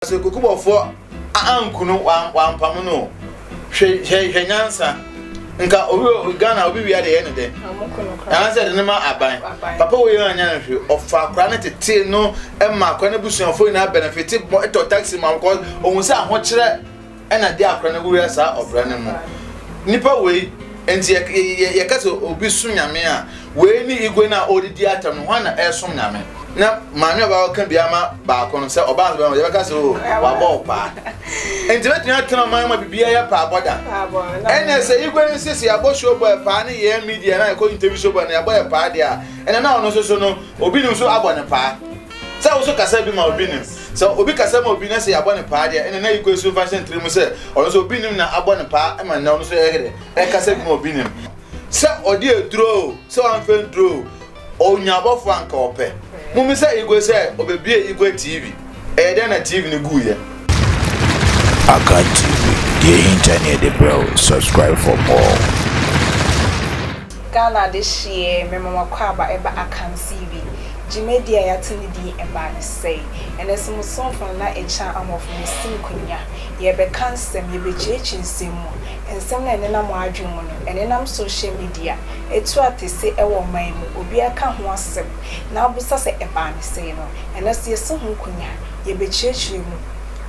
Asɛnkukubɔfoɔ anku no wampam no hwɛ hwɛ hwɛ nyansa nka obi Ghana obi wia de yɛ ne dɛ anaasɛ de ne ma aban papa wo yɛ anya no hwɛ ɔfa akora ne tete no ɛma akora ne busuafoɔ nyinaa benefit bɔ ɛtɔ taxi ma wɔkɔ ohun sɛ ahokyerɛ Ɛna de akora no wura saa ɔbra no mu. Nnipa wei, enti yɛ, yɛka sɛ obi som Nyame a, wei ne Igwe no a ɔredidi atam no, hwan na ɛresom Nyame? Na maame a ɔbɛba ka bi ama baako no, sɛ ɔbaa nso bɛma, yɛbɛka sɛ o, wabɔ wo paa. Enti bɛtumi atena ɔman ma biribiara yɛ paa bɔda. Ɛna sɛ Igwe no sɛ sɛ yɛabɔ show bɔ yɛ paa ne yɛn media na yɛkɔ interview show bɔ na yɛabɔ yɛ paa deɛ a, ɛna na ɔno nso so no, obi nim so abɔ ne paa. Sɛ wo nso kasa bi ma obi nim. Sɛ obi kasa ma obi na sɛ yɛabɔ no paa deɛ, ɛnna na yɛkɔ asu mfa hyɛ ne tiri mu sɛ ɔno nso obi nim na abɔ no paa ma nnɛ ɔno nso ɛyɛ dɛ ɛkasa bi ma obi nim. Sɛ ɔde aduro o, sɛ wamfa aduro o, ɔnya abɔfo a anka ɔpɛ. Mommisa Igwe sɛ ɔbɛbue Igwe TV. Ɛyɛ dɛn na TV no guiɛ? Akan TV, deɛ ɛhinta ne yɛde brɛ wo, subscribe for more. Ghana de hyeɛ memamakwaaba ɛba akansie bi. Dwumadie a yɛato ne din ɛbaa no sɛi. Ɛnnɛ nso mo somfo no na ɛkyɛn ahɔfo no si nkonnwa. Yɛrebɛka nsɛm, yɛrebɛkyiakyia nsɛm mu. Nsɛm no a ɛnenam mo adwene mu no, ɛnenam social media. Ɛtu atese wɔ ɔman mu, obiara ka ho asɛm, na wobisa sɛ ɛbaa no sɛi no. Ɛnnɛ nso yɛasi ho nkonnwa, yɛrebɛkyiakyia mu,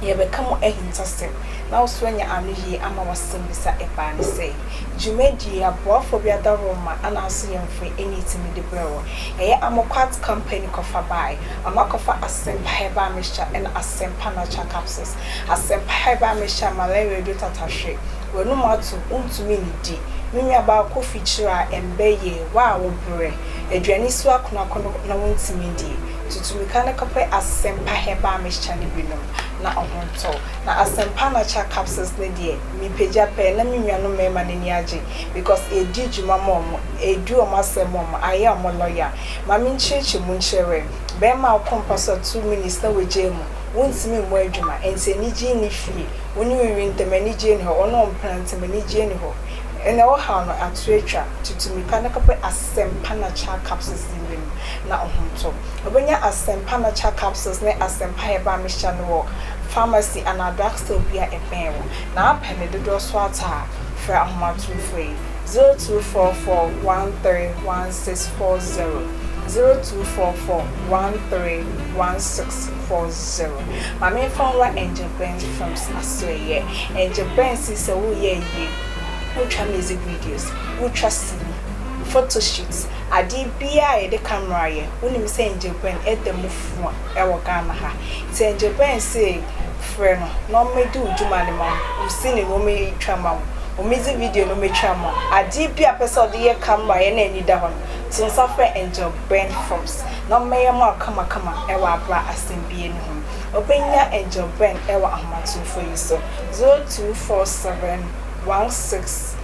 yɛrebɛka mu ahintasɛm, na wo nso woanya anoyie ama w'asɛmmisa ɛbaa no sɛi. dwumadie aboafoɔ bi ada wo mma anaaso yɛ mfre ɛna ɛtumi de brɛ wo. Ɛyɛ Amoquat company kɔfa bae. Ɔno akɔfa Asempa herbal mixture ɛna Asempa natural capsules. Asempa herbal mixture malaria duro tatahwe, w'anum ato, wontumi nnidi, me nua baa kofi kyerɛ a ɛmbɛ yie, wo a wo brɛ, aduane si wo akono akono na wontumi ndie, tutu mika na kɔpɛ Asempa herbal mixture no bi nom na ɔho ntɔ wo. Na Asempa natural capsules no deɛ, Mepagya pɛɛ na me nuanom mmarima no ani agye because yɛdi dwuma ma wɔn, yɛdi wɔn asɛm ma wɔn, ayɛ wɔn lɔya. Ma menkyerɛkyerɛ mu nkyerɛ wɛ, barima a wokɔ mpa so a two minutes na wagyae mu, wontumi mmɔ adwuma, ɛnti anigye nni fie, wo ne wo yere ntam anigyeɛ nni hɔ, wo ne wo mpena ntam anigyeɛ nni hɔ, ɛnna ɛwɔ haw no ato atwa, tutu mmirika na kɔpɛ Asɛmpa Natural Capsules di w'anim na wo ho ntɔ. Wobɛnya Asɛmpa Natural Capsules ne Asɛmpa Herbal Mixture no wɔ. pharmacy anaa drugstore bi a ɛbɛn wo, na apɛ ne dodoɔ so atɔ a, frɛ ahomatorofo yi, 0244131640, 0244131640. Ma me nfa nwura Angel Benz Films asoɛeɛ. Angel Benz yi sɛ wo yɛ ayie, wo twa music videos, wo twa sini, photo shoots, adeɛ biara a yɛde camera yɛ, wo nim sɛ Angel Benz ɛda mu fua. wɔ Ghana ha. Ntsi ngyɛ bɛn se frɛ no na ɔmɛdi wo dwuma no ma wo, wo sini no ɔmɛtwa ma wo, ɔmɛdzi video no ɔmɛtwa ma wo, adeɛ bi a ɔpɛ sɛ ɔde yɛ camera yɛ na ani da hɔ no, to nsa frɛ Angel Ben Forbes na ɔmɛyɛ ma wo kama kama wɔ abra asɛmbie no ho. Ɔbɛnya Angel Ben wɔ ahomatrofo yi so, 0247 16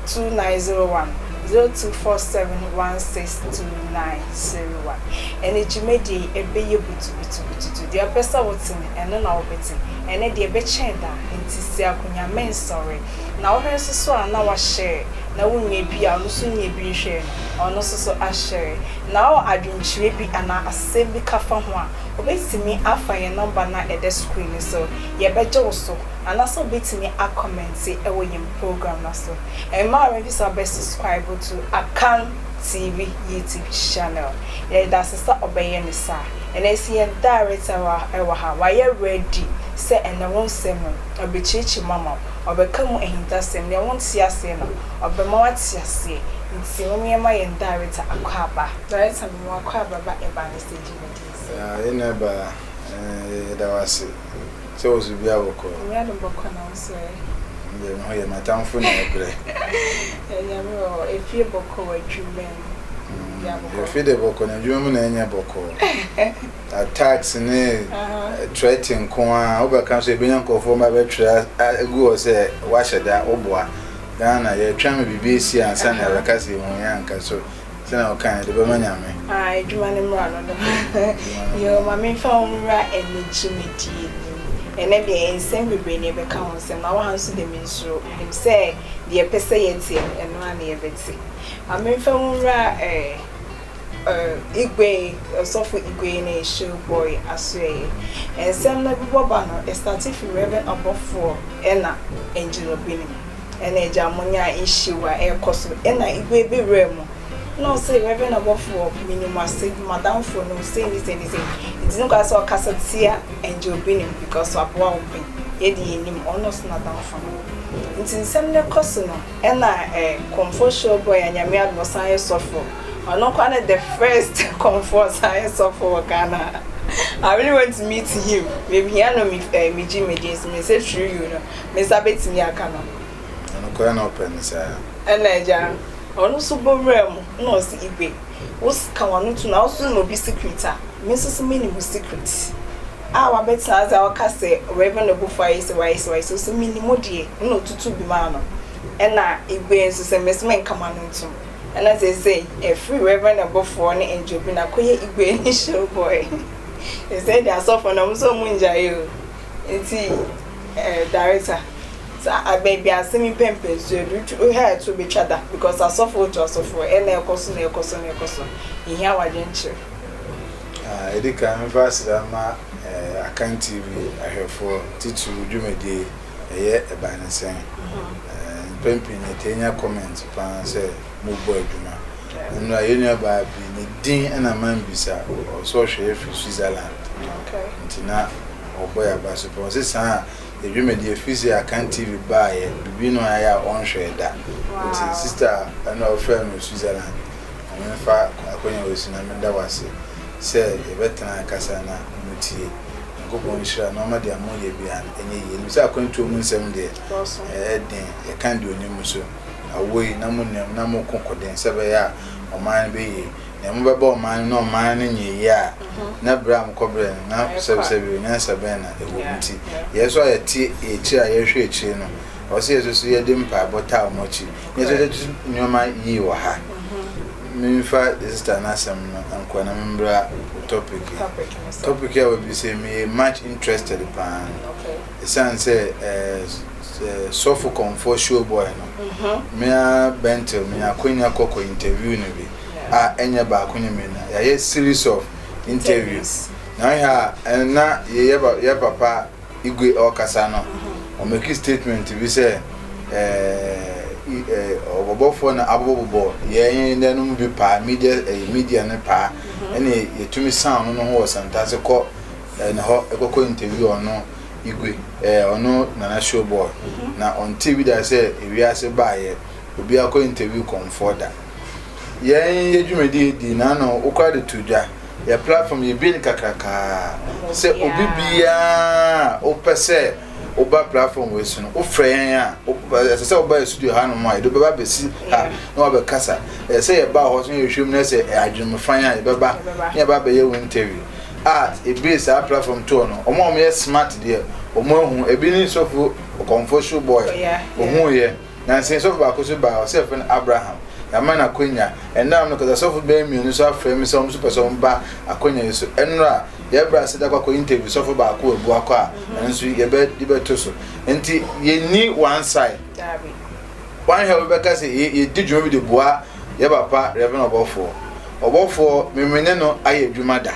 2901, 0247 16 29. serewa. Ɛne dwumadie yi ɛbɛyɛ butubutubututu, deɛ wopɛ sɛ wote no, ɛno na wobɛte, ɛne deɛ ɛbɛkyɛn da, enti si akonnwa mɛn sɔre. Na wohwɛ nso so a na wahyɛre, na wonnya bi a ɔno nso nnya bi nhwɛɛ no, ɔno nso so ahyɛre. Na wowɔ adwenkyerɛ bi anaa asɛm bi ka fa ho a, wobɛtumi afa yɛn nɔmba no a ɛda screen no so, yɛbɛgye wo so, anaasɛ wobɛtumi a kɔmɛnte wɔ yɛn program no so. Mmaa mebisa wobɛ subscribe to Akan. TV yi TV channel yɛde dase sɛ ɔbɛyɛ ne saa ɛnɛ nso yɛn director wɔ ɛwɔ ha wayɛ ready sɛ ɛnɛ wo nsɛm mu ɔbɛkyiakyia mu ama wo ɔbɛka mu ahintasɛm nea wo nte aseɛ no ɔbɛma wo ate aseɛ nti mom yɛn ma yɛn director akɔ aba. Director mema wakɔ aba ba ɛba ne stage no din sɛ. Yɛn na ɛba ɛɛ yɛda wo ase. Sɛ wo so bi a bɔkɔ. Owura no bɔkɔ na wo so ɛ. Yɛ me ho yɛ m'atamfo na ɛbrɛ. Yɛ Nyame ɔ, efie bɔkɔ wɔ adwuma mu. Bia bɔkɔ. Yɛ fi de bɔkɔ na adwuma mu na ɛnyɛ bɔkɔ. Attacks ne threat nko a, wo bɛ ka so yɛ bɛnya nkorɔfoɔ mba bɛ twerɛ agu hɔ sɛ wahyɛ da wo boa. Ghana yɛ twɛn ma biribi esi ansa na yɛ bɛ ka sɛ yɛ hu yɛ anka so. Sɛ na ɔka yɛ de bɛma Nyame. Aah adwuma no mmra no no yoo ma menfa wo nwura ɛnɛ dwumadie no mu ɛnɛ deɛ nsɛm bebree na yɛbɛka ho nsɛm na woaha nso deɛ mensuro menim sɛ deɛ yɛpɛ sɛ yɛteɛ no ɛno ara na yɛbɛte ma menfa wo nwura ɛɛ uh, Igwe, Osofo Igwe na Show Boy Asoɛyɛ. Nsɛm no bobɔ ba no, ɛstate fi Reverend Abɔfoɔ ɛna Angelo Binom. Ɛna agya mo nya issue a ɛkɔ so ɛna igu ebi wura mu na ɔsɛ reverend ɔbɔfoɔ mini mo ase madam fo no sei ni sei ni sei nti ne kwa sɛ ɔkasa tia angel bi nim because waboa wo pɛ yɛ de yɛ nim ɔno ɔsɛ nadam fo no nti nsɛm ne kɔ so no ɛna ɛ kɔmfo show boy a nyame adom ɔsan yɛ sɔfo ɔno kwa ne the first kɔmfo ɔsan yɛ sɔfo wɔ Ghana I really want to meet him me hia no me ɛ me gyi me din so me sɛ through you no me nsa bɛtumi aka no. Na nokorɛ na ɔpɛ no saa. Ɛna Agya Ɔno nso bɔ wura mu na ɔse Igwe, wo se ka w'ano to na wo so ma obi secret a, me nso se menim wo secret. A wabɛtena ase a ɔka sɛ w'aven ne bofo ayɛ se w'ayɛ se w'ayɛ se, ose menim wo deɛ, ɛna ɔtutu bi maa no. Ɛna Igwe nso se mese menka m'ano ntom. Ɛna seesei afiri w'aven ne bofoɔ ne Angel bi na kɔyɛ Igwe ne Showboy. Seesei deɛ asɔfoɔ no ɔmo se ɔmo ngyae o. Ntsi eh director sɛ aber bi asɛm yi pɛ mpɛnsu edu tw wo hair tso betwa da because asɔfo otu asɔfo ɛ na ɛkɔ so na ɛkɔ so na ɛkɔ so yehia w'adwenkyerɛ. Ah edi kan memfa aseda mma eh Akan TV ahwɛfoɔ titiriw wo dwumadie yi ɛyɛ ɛban ne sɛn eh mpɛn pii no yɛtaa nya comment paa sɛ mobɔ adwuma. Ɔno a, yɛn nuabaa bi, ne din na mambisa, ɔwɔ sɛ ɔhwɛ yɛn firi Switzerland, nti na ɔrebɔ yɛn aba so pɛn. Ɔse saa yɛn dwumadi, ɛfiri sɛ Akan TV baeɛ, biribi na ɔayɛ a ɔnhwɛɛ da, nti sister a na ɔfrɛɛ me wɔ Switzerland, ma memfa akwanya wei so na meda wo ase sɛ yɛbɛtena rekasa na motie. Nyankopɔn nhyira na ɔma deɛ moyɛ biara no ɛnyɛ yie. Yɛnim sɛ akwantuo mu nsɛm deɛ, ɛyɛ den, yɛka deɛ ɔnim nso. Awoi, na monim, na moko koden sɛ ɛbɛyɛ a ɔman no bɛyie. Nea mobɛba ɔman no ne ɔman no nyɛ yie a, na berɛ a mokɔbrɛɛ no, na bisabisa bio, Nyansa bɛn na ɛwɔ mu? Nti, yɛn nso a yɛte akyire a yɛhwɛ akyire no, ɛwɔ sɛ yɛn nso so yɛde mpaebɔ taa wɔn akyi, na yɛn nso yɛde to nneɛma yie wɔ ha. Memfa yɛn sista no asɛm no nkɔ na memmra topic yi. Topic yi a wabisa yi, meyɛ much interested paa. Ɛsiane sɛ sɔfo kɔmfoɔ show boy no, me ara Bentil menya akwanya kɔ kɔ interview no bi a ɛnyɛ baako ne mmienu, yɛayɛ series of interviews na wohwɛ a na yɛ papa Igwe ɔrekasa no ɔ make statement bi sɛ ɔbɔbɔfoɔ na abobɔbobɔ yɛn dɛ no mu bi paa media ɛyɛ media no paa ɛne yɛtumi sound no ho wɔ Santase kɔ Eh na hɔ eh kɔkɔ interview ɔno igwe eh ɔno nana show boy na ɔnte bi da sɛ ewiase baayɛ obi akɔ interview kɔmfoɔ da yɛn yɛ dwumadi edi na ano wokora de to dwa yɛ platform yɛ bie ne kakrakaa sɛ obi biaa wopɛ sɛ woba platform wei so no wofrɛ yɛn a ɛsɛ sɛ woba yɛ studio ha nom a yɛde bɛba bɛsi ha na wabɛkasa ɛsɛ sɛ yɛba hɔ so yɛhwɛ mu na sɛ adwenemfan a yɛbɛba na yɛba bɛyɛ wo interview Art ebue saa platform tour no ɔmo a ɔmo yɛ smart deɛ ɔmo ahu ebi ne sɔfo ɔkɔmfo shoe boy oh, yeah, yeah. ohun yɛ nansen sɔfo baako so baa ɔsɛ yɛfrɛ no Abraham yɛama no akonya ɛnam no kasa sɔfo bɛyɛ mmienu nso afrɛ me sɛ ɔmo nso pɛ sɛ ɔmo ba akonya yi so ɛnora yɛbrɛ ase da kɔkɔ interview sɔfo baako abu akɔ a ɛno nso yɛbɛ yɛbɛto so nti yɛnni one side Wan hɛ obi bɛka sɛ ye yedi dwuma bi de boa yɛ papa Rev. Ɔbɔfoɔ. Ɔbɔfoɔ, me me ne no ayɛ adwuma da.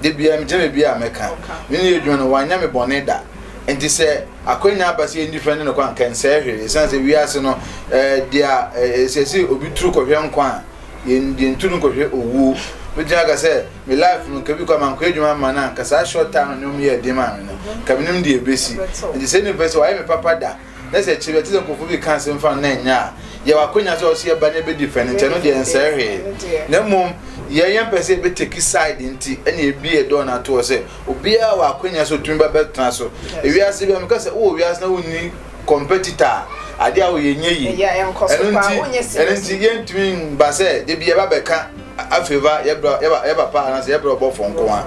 Da biara megyina baabi a mɛka me ne no yɛ adwuma no, wanyɛ me bɔne da. Enti sɛ akwanya aba sɛ yɛndi fɛ ne no kɔ a, anka ɛnsɛe hwee. Esiane sɛ wiase no, eh, deɛ a, eh, ɛsɛ sɛ obi turu kɔhwɛ nkwa a, yɛn deɛ nturu nkɔhwɛ owuo. Mɛtumi aka sɛ me life no, nka bi kɔ a mankɔyɛ adwuma mma no a, anka saa short time no ne wɔn yɛɛ den maa me no, nka menim deɛ ɛbɛsi. Enti sɛ nipa sɛ wayɛ me papa da, na sɛ akyiri ɛte sɛ nkurɔfoɔ bi ka asɛm fa no na ɛnyɛ a yɛwɔ akwanya sɛ ɔsɛ yɛba na ɛbɛdi fɛ no nti ɛno deɛ nsɛe hwee na mmom yɛn yɛn pɛ sɛ ɛbɛtaki side nti ɛne ɛbie dɔɔ no atoɔ sɛ obiara wɔ akwanya sɛ ɔtumi ba bɛtena so ewiase bi a meka sɛ wowɔ wiase na wonni competitor a adeɛ a woyɛ nyɛ yi ɛno nti yɛntumi mba sɛ da bi yɛba bɛka afei ba yɛ bra yɛ ba yɛ papa anaasɛ yɛ bra ɔbɔfoɔ nko ara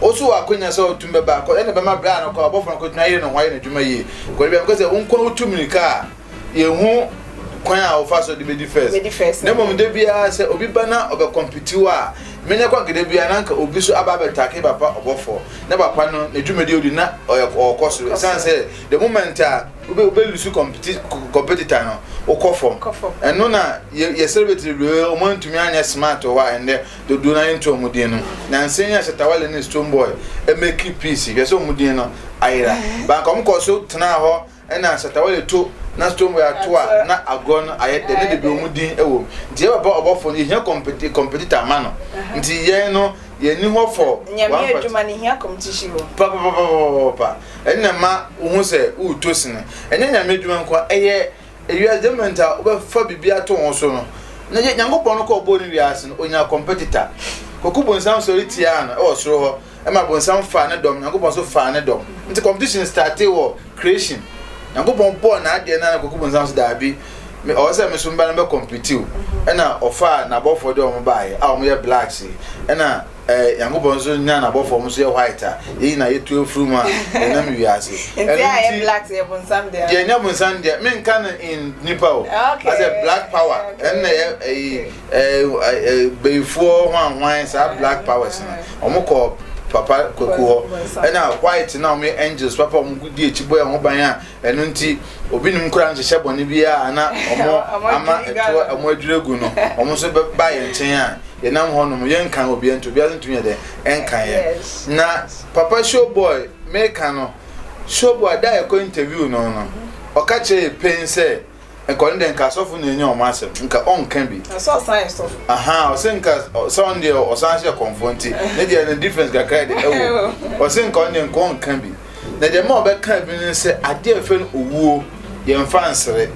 ɔso wɔ akonya sɛ ɔtum bɛba akɔ ɛna bɛma bra no kɔ ɔbɔfoɔ no kɔtumi ayɛ ne ho ayɛ n'adwuma yie kɔde bi amekɔ sɛ wo nko wotu mirika a yɛhu kwan a wɔfa so de bɛdi first na mmom da biara sɛ obi ba na ɔbɛkɔmpiti wo a menyɛ kɔ gede biara na nka obi so aba abɛtake papa ɔbɔfoɔ na papa no n'adwumadi odi na ɔyɛ ɔkɔ so ɛsiane sɛ the moment a wobɛlusu competitor no wokɔ fam ɛno na yɛ celebrity bebree ɔmo antumi anyɛ smart wɔ hɔ a ɛndɛ dodoɔ no ayɛ nto ɔmo din no nansa yi a Shatawale ne Stone Boy ɛmɛki peace hwɛ sɛ ɔmo din no ayera banka ɔmo kɔ so tenaa hɔ ɛna Shatawale to na Stone Boy ato a na agorɔ no ayɛ dɛ ne de bi ɔmo din ɛwɔ mu nti yɛbɛbɔ ɔbɔfo no yɛhia competitor ma no nti yɛn no yɛni hɔ fɔ nyame adwuma no hia competition wɔ papapapapa Ɛnna ɛma wohu sɛ woretɔ sini. Ɛnyɛ Nyame adwuma nko ara, ɛyɛ ewiase development a wobɛfa biribi ato ho so no. Na yɛ Nyankopɔn no kɔ ɔbɔɔ ne wiase no, onyaa competitor. Kwaku Bonsam sɔre tiaa no wɔ soro hɔ, ɛma Bonsam faa ne dɔm, Nyankopɔn nso faa ne dɔm. Nti competition startee wɔ creation. Nyankopɔn bɔɔ n'adeɛ no ara na Kwaku Bonsam nso daabi, me, ɔwɔ sɛ me nso meba na mɛcompete o. Ɛnna ɔfaa n'abɔfoɔ de wɔn baeɛ a wɔyɛ blacks yi. Ɛnna Eh, Nyankopɔn nso nya n'abɔfoɔ nso yɛ white a, yɛn nyinaa yɛtu afiri mu a, yɛnam wiase. Nti a yɛ black yɛ bonsam deɛ. Yɛ nya bonsam deɛ, me nka no in nipa o. Okay. Asɛ black power, ɛn na yɛ ɛyi ɛɛ bɛyifoɔ hwan hwan saa black powers no, wɔn kɔ papa kwaku hɔ, ɛna white na wɔn angels papa wɔn di akyi bɔ yɛn ho ban a. Ɛno nti, obi nim koraa nhyehyɛ bɔne biara a na wɔn ama ɛtoɔ wɔn adwiri agu no, wɔn nso bɛba yɛn nkyɛn a, yɛnam hɔ nom, yɛnkan obiara nti, obiara nso ntumi yɛ dɛ, ɛnkan yɛn. Na papa showboy meka no, showboy da a yɛkɔ interview no no, ɔka kyerɛ yɛ pɛn sɛ, nka ɔno deɛ nka asɔfo nyɛ nyɛ ɔmo asɛm nka ɔnka bi. na sɛ ɔsan yɛ sɔfo. aha ɔsɛ nka sɛ ɔno deɛ ɔsan hyɛ kɔnfɔ nti ne deɛ no difference kakra yɛ de ɛwɔ ɔsɛ nka ɔno deɛ nka ɔnka bi na deɛ ma ɔbɛka bi no sɛ adeɛ ɛfɛ no owuo yɛnfa nsere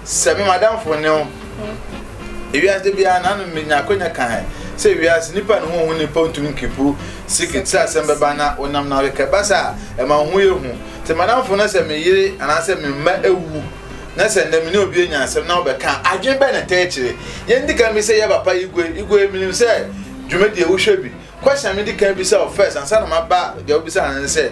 sɛ me madamfo ne ho ewiase de biara na no menya akonya ka hɛn sɛ ewiase nipa ne ho ho nipa ntumi nkipu sikit sɛ asɛm bɛba na wonam na wekɛ basa ɛma ho yɛ hu Sɛ m'adamfo na sɛ me yere anaasɛ me mma awu na sɛ nnɛ me ne obi anya asɛm na wobɛka a, adwene bɛn na ɛtaa kyerɛ? Yɛn di kan bi sɛ yɛ papa Igwe, Igwe, menim sɛ dwumadi a wohwɛ bi. Question a medi kan bisa wo first ansa na maba deɛ wobisa no ne sɛ,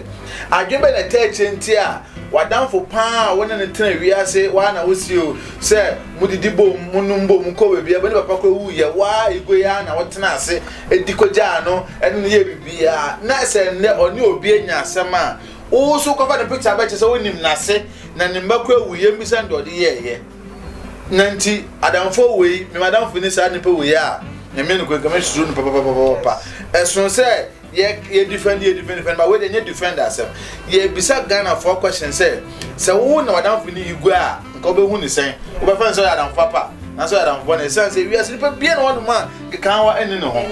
adwene bɛn na ɛtaa kyerɛ nti a w'adamfo paa a wo ne no tena wiase, waa na wosie o, sɛ modidi bom, monom bom, mokɔ baabi a, mo ne papa kora wu yɛ, waa Igwe aa na wotena ase di kogyaa no, ɛne no yɛ biribiara, na sɛ nnɛ ɔne obi anya asɛm a, Wowu so kɔfa ne picture bɛkyɛ sɛ wonim nase na ne mma kura wu yɛn bisa nea ɔde yɛɛyɛ na nti adamfoɔ wei me madamfo ni saa nipa wei a nyame no kɔ nka me susuro no papapapapa ɛsono sɛ yɛ yɛ defend yɛ defend defend ba wei de nyɛ defend asɛm yɛ bisa Ghana foɔ question sɛ sɛ wo na wadamfo ni yi gua a nka wobɛhu ne sɛn wobɛfa ne sɛ ɔyɛ adamfo papa na sɛ ɔyɛ adamfo bɔ na ɛsiane sɛ wiase nipa bia na wɔnom a Kekawa nni ne ho.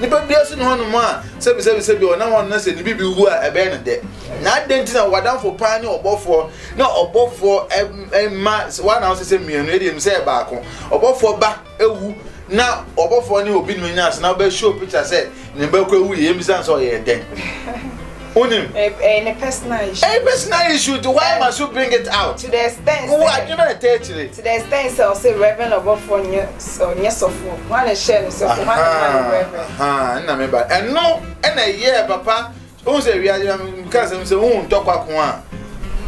Nipa biara si ne hɔ nom a, sɛbisɛbi sɛbi ɔnam hɔ na sɛ ne biribi wu a, ɛbɛyɛ no dɛ. Na adɛn nti na wadamfo paa ne ɔbɔfoɔ na ɔbɔfoɔ mma wanam sɛ sɛ mmienu, ɛdeɛ mi sɛ yɛ baako. Ɔbɔfoɔ ba awu na ɔbɔfoɔ ne obi nom anya ase na ɔbɛhyɛ o picture sɛ ne ba kɔ awu yɛ, yɛn bisa no sɛ ɔyɛ dɛn? wonim ɛyɛ ne personal issue ɛyɛ personal issue to why must you bring it out to the extent wo adwene a ɛtɛ akyire to the extent sɛ ɔsɛ reverend ɔbɔfoɔ nyɛ ɔnyɛ sɔfoɔ ho ana hyɛ no sɔfoɔ ho ana ma no reverend ɛna me ba ɛno ɛna ɛyɛ papa wohu sɛ wiadeɛ meka sɛm sɛ wohu ntɔkwa ko a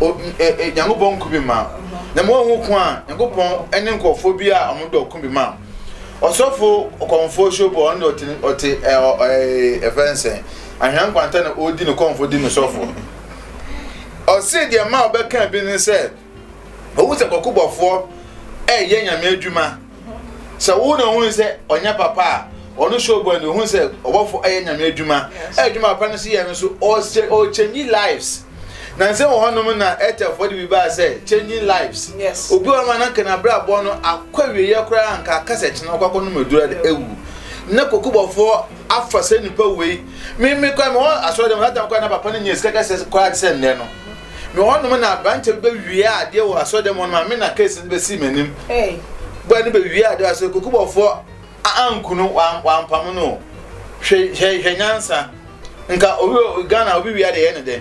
nyankopɔn nko bi ma na ma wohu ko a nyankopɔn ne nkurɔfoɔ bi a ɔmodɔ ko bi ma Ɔsɔfo kɔmfo Shobo, ɔno de ɔte ɔte ɛɛ ɛfɛ nsɛn. Ahwɛ nkwanta na ɔredi ne kɔmfo di ne sɔfo. Ɔse deɛ ma ɔbɛka bi ne sɛ, ohu sɛ kɔkobɔfoɔ ɛyɛ nyame adwuma. Sɛ wo na ohun sɛ ɔnyɛ papa a, ɔno Shobo ɛna ohun sɛ ɔbɔfo ɛyɛ nyame adwuma. Ɛyɛ adwuma papa no so yɛ no so ɔkyɛnyi lives. Nansa wɔ hɔnom na Ethelfoɔ de bi baa sɛ Changing Lives. Yes. Obi wɔ hɔnom a na nka n'abrabɔ no akɔ awieeɛ koraa nka aka sɛ kyena ɔkɔ akɔnom aduro de awu. Na kokobɔfoɔ afa sɛ nipa wei. Me me kora mewɔ asɔre dɛm that time koraa na papa no nyɛ sika kɛseɛ koraa te sɛ nnɛ no. Me wɔ hɔnom na aberanteɛ bi bɛwie adeɛ wɔ asɔre dɛm hɔnom a me na case no bɛsi m'anim. Hey. Bɔɛ no bɛwie adeɛ wɔ asɔre kokobɔfoɔ A anku no wampam no o hwɛ hwɛ hwɛ nyansa nka obi wɔ ghana obi wia de yɛ ne dɛ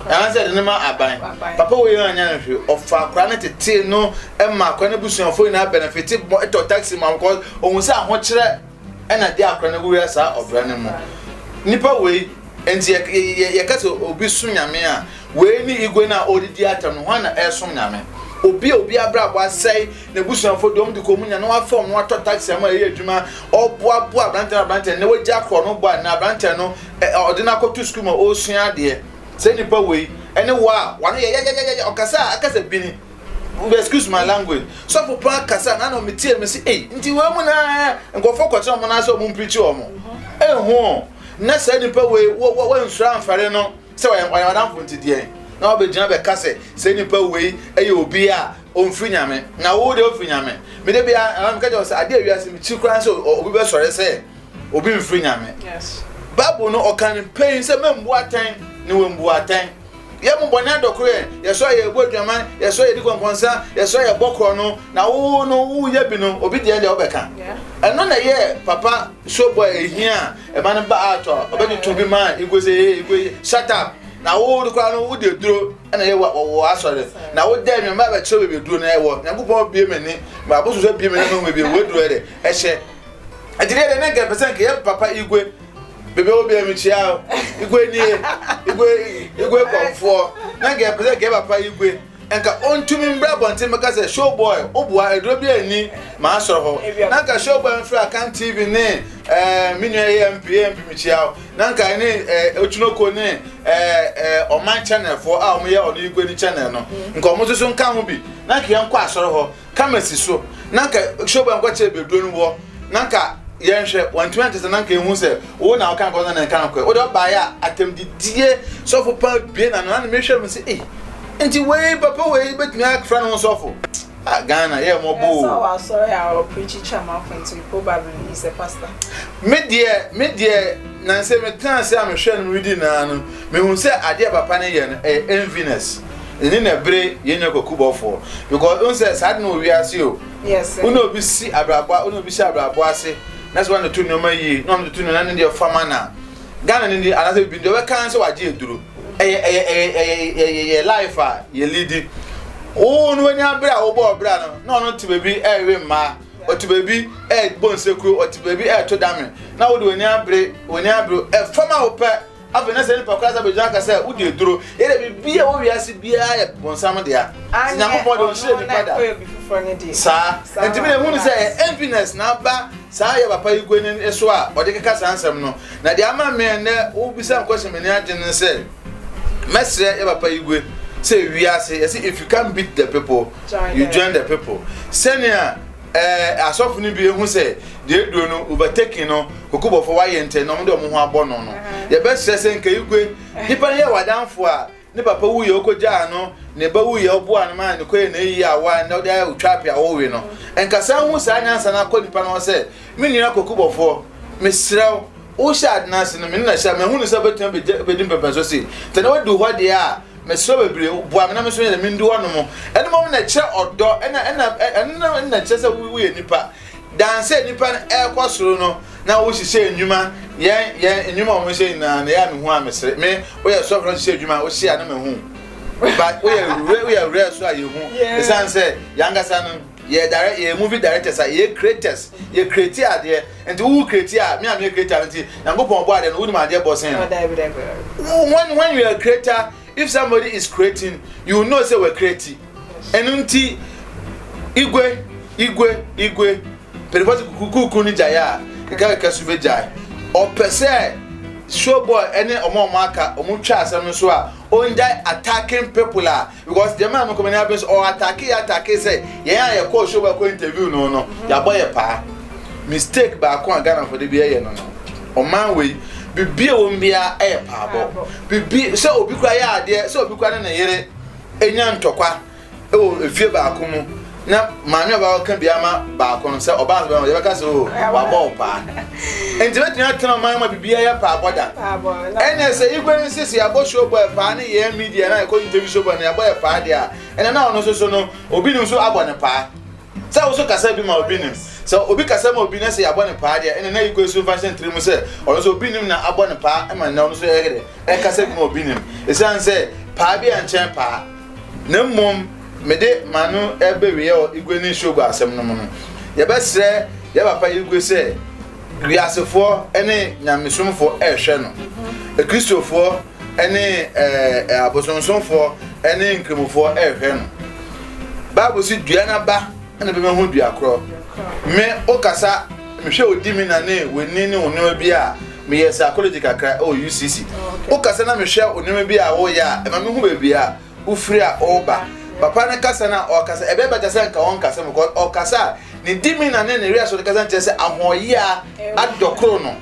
anaasɛ de ne ma aban papa wei yɛ anya no hwɛ ɔfa akora no tetee no ma akora no busuafoɔ nyinaa benefite bɔ ɛtɔ taxi ma because ohun sɛ ahokyerɛ ɛna de akora no wura saa ɔbra no mu nipa wei nti yɛka sɛ obi so nyame a wei ne igwe no a ɔdedi atam no hɔ na ɛsom nyame obi a obi abrabɔ asɛe N'abusuafo de wɔn de kɔɔ mu nya na wɔafa wɔn atɔ taxi ama ɛyɛ adwuma. Ɔboaboa aberanteɛ no aberanteɛ no na wagya korɔ no bɔ a na aberanteɛ no ɔde no akɔto sukuu ma ɔresua adeɛ. Saa nipa wei ɛne wɔ a wano yɛ yɛyɛyɛyɛ ɔkasa a akasa bini. Excuse my language. Sɔfo paa kasa na na metie me se ei nti wei mu na nkurɔfoɔ kɔtena wɔn nan sɛ wɔn mpirikyi wɔn. Ɛho na saa nipa wei wɔnsura amfɛre no. Sɛ ɔyɛ ɔyɛ ɔdamfo nti deɛ na wabɛgyina bɛka sɛ sɛ nipa wei ɛyɛ obi a ɔmfiri nyame na wo deɛ ɔfiri nyame mede bia meka kyɛ sɛ adeɛ wiase mekyi koraa sɛ obi bɛsɔre sɛ obi mfiri nyame bible no ɔka no pɛi sɛ mambu atɛn ne wambu atɛn yɛ mo bɔne adɔko yɛ yɛsɔ yɛ ɛbɔ adwaman yɛsɔ yɛ di kɔnkɔnsa yɛsɔ yɛ bɔ korɔ no na wo no woyɛ bi no obi deɛ deɛ wobɛka ɛno na ɛyɛ papa sobɔ ɛhia a ɛma no ba ato a ɔbɛtoto bi ma igwe sɛ ee igwe shut up na wo de kora no wo de duro ɛna yɛ wɔ asɔre na wo dɛ nneɛma bɛkyerɛ baabi duro na ɛwɔ nyankopɔn bie m'ani ma abosu sɛ bie m'ani ma baabi ɛwɔ duro ɛdɛ ɛhyɛ ɛti deɛ ne nkɛ pɛsɛ nkɛ yɛ papa igwe bebe wo bia mi kyia o igwe nie igwe igwe kɔnfoɔ ne nkɛ pɛsɛ nkɛ papa igwe Nka ontumi mbrɛ abɔnten mbɛka sɛ show boy wo boa eduro biara nni m'asɔr hɔ na nka show boy mfrɛ Akan TV ne eh me nua yi MP MP mekyia wo na nka ɛne eh Otwinoko ne eh eh ɔman channel foɔ a wɔyɛ ɔno yi guani channel no nka wɔn nso so nka ho bi na nka yɛn kɔ asɔr hɔ Camera si so na nka show boy nkɔkyerɛ bɛduro no wɔ na nka yɛnhwɛ wɔntumi ankyɛ sɛ na nka ehu sɛ wo na woka nkɔsɛ na nka no kɔɛ wode ɔbaeɛ a atɛmdidie sɔfo paa bie na no na mehwɛ mu sɛ ei nti wei papa wei bɛtumi afra ne ho sɔfo ah Ghana yɛ mmɔbɔ o me deɛ me deɛ nansɛ metena ase a mehwɛ no medi naa no mehu sɛ adeɛ papa ne yɛ no ɛyɛ enviness Ɛnne na ɛbere yɛn nua kwakubɔfoɔ because ohun sɛ saa de na wɔ wiase o. Wo ne obi si abrabɔ wo ne obi si abrabɔ ase na sɛ wɔn to nneɛma yie na wɔn to nneɛma ne deɛ fama na Ghana ne deɛ anaasɛ bibi deɛ ɔbɛka sɛ wagye aduro. Ɛyɛ ɛyɛ ɛyɛ ɛyɛ yɛ life a yɛ lidi. Wo ne wɔn abere a wɔbɔ ɔbra no na ɔno te baabi ɛrewe mmaa ɔte baabi ɛrebɔ nsekuro ɔte baabi ɛreto dame na wɔde wɔn abere wɔn abere ɛfam a wɔpɛ. Afei na saa nipa koro asa bɛgyina aka sɛ wodi aduro. Yɛ dɛ biribi a ɛwɔ wiase biara yɛ bonsam dea. Nti Nyankopɔn de ɔnhyɛ nipa da. Saa. Nti mi na ehu no sɛ yɛ enviness na aba saa yɛ papa yi gua n'ani so a ɔde keka saa nsɛm no. Na deɛ ama mmea nnɛ wobisa nkɔhyɛ m'ani agye no sɛ mɛsrɛ yɛ papa yi gue sɛ wiase yɛsi if you can't beat the people you join the people sɛnea Ɛɛ asɔfo no bi ehu sɛ deɛ eduro no overtaking no kokobɔfo wayɛ ntɛ na wɔn de wɔn ho abɔ no no yɛbɛsrɛ sɛ nka igwe nipa no yɛ wadanfo a ne papa wu yɛ ɔkɔgyaa no ne ba wu yɛ ɔboa no ma ne kɔyɛ na eyi awa na ɔde ayɛ otwa apɛ a ɔwe no nka saa hu saa nyansa no akɔ nipa no hɔ sɛ me nua kokobɔfoɔ mesrɛ wo wohyɛ adena ase no me ne na hyɛ a mahu no sɛ bɛtumi bɛdi mpɛmpɛnso se tɛ na wadu hɔ deɛ a Mesrɛ bebree o, boa me na me nso yɛn mendu hɔ nom. Ɛno mmom na ɛkyerɛ ɔdɔ, ɛna ɛna ɛno na ɛkyerɛ sɛ woyɛ nipa. Dan sɛ nipa no ɛrekɔ soro no na wohyehyɛ nnwuma, yɛn yɛn nnwuma a wɔhyehyɛ nyinaa na ɛyɛ a mehu a mesere. Me woyɛ sɔfo na wohyehyɛ adwuma a wohyɛ a na mehu. But woyɛ woyɛ woyɛ so a yɛhu. Ɛsiane sɛ yɛn ankasa no. Yɛ direct yɛ movie directors a yɛ creators yɛ create adeɛ nti wowu create a me a meyɛ creator no nti nyankopɔn bɔ adeɛ no wonim adeɛ bɔ sen no when when you are a creator if somebody is creating you know say we create ɛno nti igwe igwe igwe pɛrɛfɔsi kukuku ne gyae a kɛkɛkɛ so bɛ gyae ɔpɛ sɛ showboy ɛne ɔmo ɔmo aka ɔmo twa asɛm no so a ɔngyae attacking people a Because deɛ maa me kɔ m'ani abere sɛ ɔ atake yɛ atake sɛ yɛn a yɛ kɔɔ show bɛ kɔ interview no no mhm. yabɔ yɛ paa mistake baako a Ghana fo de bi ɛyɛ no no ɔman wei bibi a wɔn biara ɛyɛ paabɔ bibi sɛ obi kura yɛ adeɛ sɛ obi kura ne ne yere enya ntɔkwa ɛwɔ efie baako mu na maame a ɔbaa ɔka bi ama baako no sɛ ɔbaa no bɛma yɛbɛka sɛ o wabɔ wo paa nti bɛtumi atena ɔman ma biribi ayɛ paa bɔda ɛnɛ sɛ igwe no sisi abɔ show boy paa ne yɛn media na ɛkɔ interview show boy no yɛabɔ yɛ paa deɛ a ɛnɛ na ɔno soso no obi nim so abɔ ne paa sɛ wo so kasa bi ma obi nim sɛ obi kasa ma obi na sɛ yɛabɔ ne paa deɛ ɛnɛ na igwe so mfa hyɛ ntiri mu sɛ ɔno so obi nim na abɔ ne paa ma nnɛ ɔno so ɛkasa bi ma obi nim ɛsiane sɛ paa bi a nkyɛn paa Na mmom mede m'ano bɛweɛ wɔ Igwe ne Nsuogu asɛm no mu no, yɛbɛsrɛ yɛ papa Igwe sɛ wiasefoɔ ne nyamesomfoɔ rehwɛ no, Akristofoɔ ne abosonsomfoɔ ne Nkramofoɔ rehwɛ no. Bible se dua n'aba. Ɛna bɛma ho dua korɔ. Me wo kasa mehwɛ wo di me na ne w'ani ne wo nneɛma bi a meyɛ psychology kakra ɛwɔ UCC wo kasa na mehwɛ wo nneɛma bi a woyɛ a ɛma me ho baabi a wofiri a ɔreba papa ne kasa na ɔkasa ɛbɛyɛ bɛtɛ sɛ nka wɔn kasa mu kɔ ɔkasa a ne di me na ne ne wia so ne kasa nkyerɛ sɛ ahoɔyɛ a adɔkoro no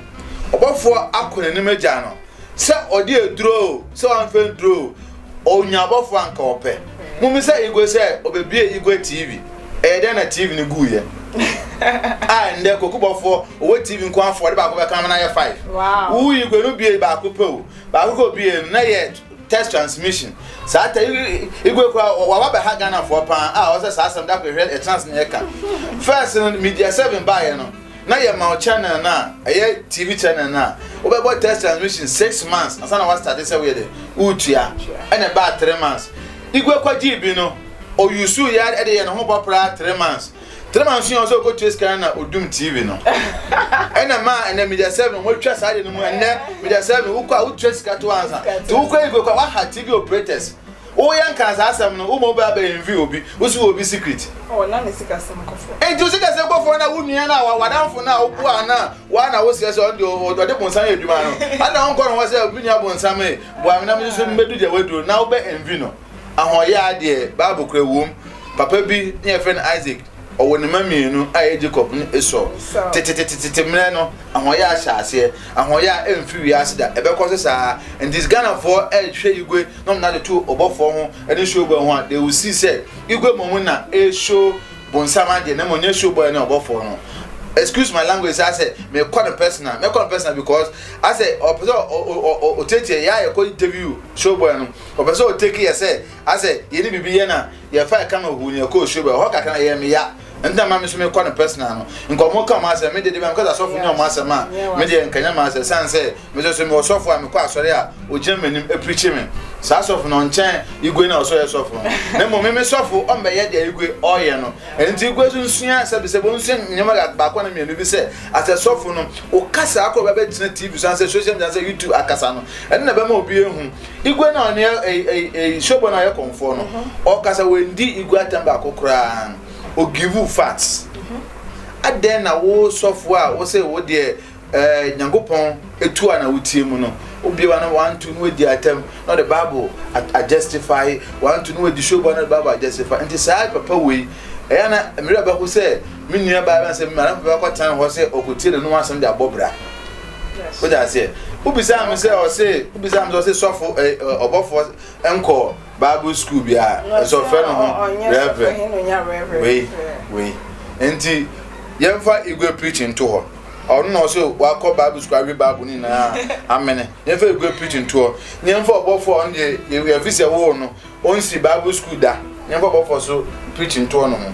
ɔbɔfoɔ akɔ n'anim agya no sɛ ɔde aduro sɛ wɔn fɛn duro Onya abɔfo a nka ɔpɛ. Mummisa Igwe sɛ obebue Igwe TV. Ɛyɛ dɛn na TV no guiɛ? a ɛndɛ kokubɔfoɔ ɔwɔ TV nko afɔ de baako bɛka na ayɛ five. Wo Igwe no bue baako pɛ o. Baako kɔ bue no na yɛ test transmission. Saa ta Igwe kura wawa bɛha Ghanafoɔ paa a ɔsɛ saa asɛm da kɔ hwɛ ɛtena ase na yɛka. First no Media 7 baeɛ no. na yɛma wo channel no a ɛyɛ TV channel no a wobɛbɔ test transmission six months ansa na wastate sɛ woyɛ dɛ woretua ɛna ɛbaa three months igwe kɔgyee bi no ɔyusu yɛ ɛde yɛ ne ho bɔpraa three months three months yɛ ɔsɛ ɔkɔtua sika no na ɔdum TV no ɛna ma ɛnɛ media seven wɔatwa saa de no mu ɛnɛ media seven wokɔ a wotua sika to ansa nti wokɔ igwe kɔ waha TV operators Wo yɛ nkaa saa asɛm no wo ma obi a bɛ envy obi wo si wɔ obi secret. Oh na ne sikasɛm kɔ fɔm. Enti wo sikasɛm kɔ fɔm na wo nua no a w'adamfo no a wo boaa no a woa na wo srɛ sɛ ɔno deɛ ɔde bonsam yɛ adwuma no adɛn na wonkɔ ne hɔ sɛ me nua bonsam ee boa me na me nso mɛdu deɛ w'aduro na wo bɛ envy no. Ahɔyaa deɛ bible kura wom papa bi ne yɛfrɛ no Isaac Ɔwɔ ne mma mmienu a ɛyɛ Jacob ne Esau. Tetetetetete mmerɛ no, ahoɔyɛ ahyɛ aseɛ. Ahoɔyɛ a ɛmfiri wiase da, ɛbɛkɔ so saa. Nti Ghanafoɔ ɛrehwɛ Igwe na wɔn ade to ɔbɔfoɔ ho ne show boy ho a, they will see sɛ Igwe mmom na ɛreshow bonsam adeɛ na mmom ɛnyɛ show boy ne ɔbɔfoɔ no. Excuse my language saa sɛ mekɔ no personal, mɛkɔ no personal because asɛ ɔpɛ sɛ ɔtiatia yɛ a yɛkɔ interview show boy no, ɔpɛ sɛ ɔtake yɛ sɛ asɛ yɛne biribi yɛ na yɛfa ɛka ma hu ne ɛkɔ osuo bɛ hɔ kakra na yɛ me ya nta ma me so mekɔ no personal no nkɔmɔ ka ɔmo asɛm mede de bɛm kɔsɛ asɔfo nyɛ ɔmo asɛm a mede yɛ nkanya ma asɛ san sɛ me so so me ɔsɔfo a mekɔ asɔre a ogyina m'anim apirikyi me saa sɔfo no nkyɛn igwe na ɔsɔ yɛ sɔfo no na mmom me me sɔfo ɔmbɛyɛ deɛ igwe ɔyɛ no ɛnti igwe so nsua sɛ bisɛ bɔ nsua nneɛma baako na mmienu bi sɛ asɛ sɔfo no okasa akɔ bɛbɛgyina tv so ansɛ social media ansɛ youtube akasa no ɛno na bɛma obi ehu Igwe na ɔne Showboy no ayɛ kɔmfoɔ no ɔkasa wendi Igwe atɛm baako koraa o give u facts adɛn na wo sɔfoɔ a wo se wo deɛ eh, Nyankopɔn etu a na wotie mu no wobie wa no wanto no adi atɛm na ɔde Bible adjustify wanto no adi Showboy na ɔde Bible adjustify nti saa papa wei ɛyɛ na mmerɛ bɛho sɛ me nua baa bɛn sɛ mmarɛ bɛkɔ tan hɔ sɛ ɔkɔtie n'anom asɛm de abɔ bra o de aseɛ wobisaa me sɛ ɔse wobisaa me sɛ ɔse sɔfo ɛ eh, eh, ɔbɔfoɔ nkɔ bible school bi a ɛsɛ ɔfrɛ no ho reverend wei wei nti yɛmfa igwe preaching to hɔ ɔno na ɔsɛ wakɔ bible school awe bible ne nyinaa amene yɛmfa igwe preaching to hɔ yɛmfa ɔbɔfoɔ ɔno deɛ yɛfi sɛ woo no Onnsi Bible skuul da na yɛmfa ɔbɔfoɔ so preach ntoɔ no ho